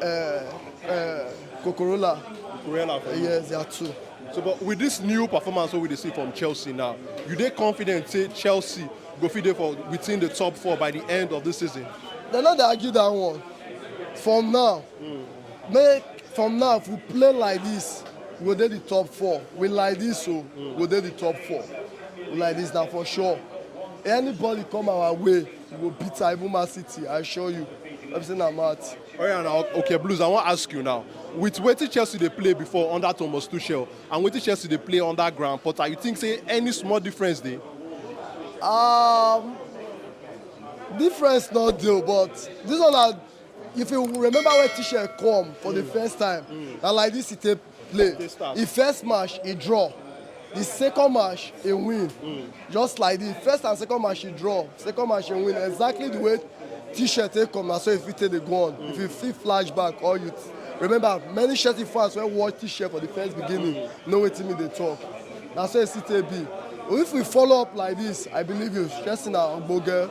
Uh, uh, Cocorola. Cocorola for you? Yes, there are two. So, but with this new performance what we see from Chelsea now, you they confident say Chelsea go fit there for within the top four by the end of this season? They not dey argue that one. From now, mm. make from now if we play like this, we go dey the top four. We like this so, mm. we go dey the top four. We like this now for sure. Anybody come our way, You go beat her, even Man City, I assure you. Let me say na mouth. Oh yeah, now okay, Blues. I want to ask you now. With wetin Chelsea dey play before under Thomas Tuchel and wetin Chelsea dey play under Graham Potter, you think say any small difference dey? Um, difference no dey o, but this one na if you remember when Tuchel come for the first time, na like this he take play. Di first match e draw, di second match e win. Just like di first and second match e draw, second match e win. Exactly di way T-shirt take come na so e fit take dey go on. If you fit flash back or you remember many Chelsea fans wey watch T-shirt for di first beginning know wetin me dey talk. Na so e still take be. If we follow up like dis, I believe you Chelsea na ogbonge.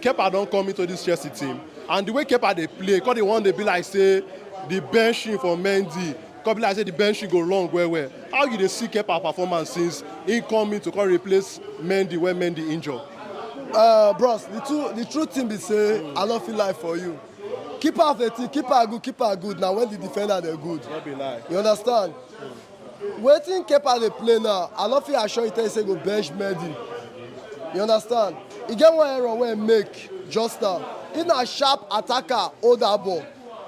Kepa don come into dis Chelsea team and di way Kepa dey play come dey wan dey be like say di benching for Mendy come be like say di benching go long well well. How you dey see Kepa performance since im come in to come replace Mendy wen Mendy injure? Ahh bros di two di true thing be say I no fit lie for you keeper of a team keeper good keeper good na wen di defender dem good No be lie. you understand. Wetin Kepa dey play now, I no fit assure you tell you say e go bench Mendy, you understand? E get one error wey e make just now, if na sharp attacker hold that ball,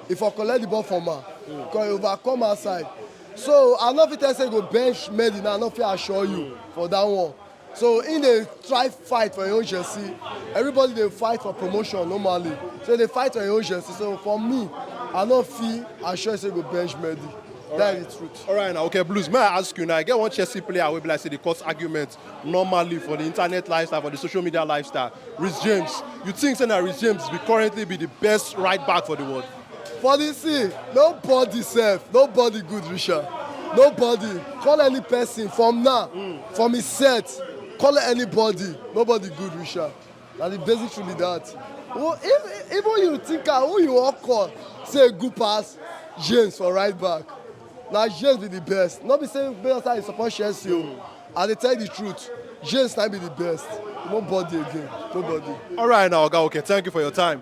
e for collect the ball from am because e overcome outside. So I no fit tell you say e go bench Mendy now, I no fit assure you for that one. So im dey try fight for im own jersey, everybody dey fight for promotion normally, so im dey fight for im own jersey, so for me I no fit assure you say go bench Mendy, dat is di truth. Alright na okay Blues make I ask you now, e get one Chelsea player wey be like say dey cause argument normally for di internet lifestyle, for di social media lifestyle, Reece James, you think say na Reece James be currently be di best right back for di world? For the scene, nobody self, nobody good reach am. Nobody. Call any person from now, from his set. Call anybody. Nobody good reach am. Na the basic truth be that. Who- If, even you think am, who you wan call say good pass James for right back. Na James be the best. No be say Bayelsa is support Chelsea o. I dey tell you the truth. James na be the best. Nobody again. Nobody. All right, now, Oga, okay, thank you for your time.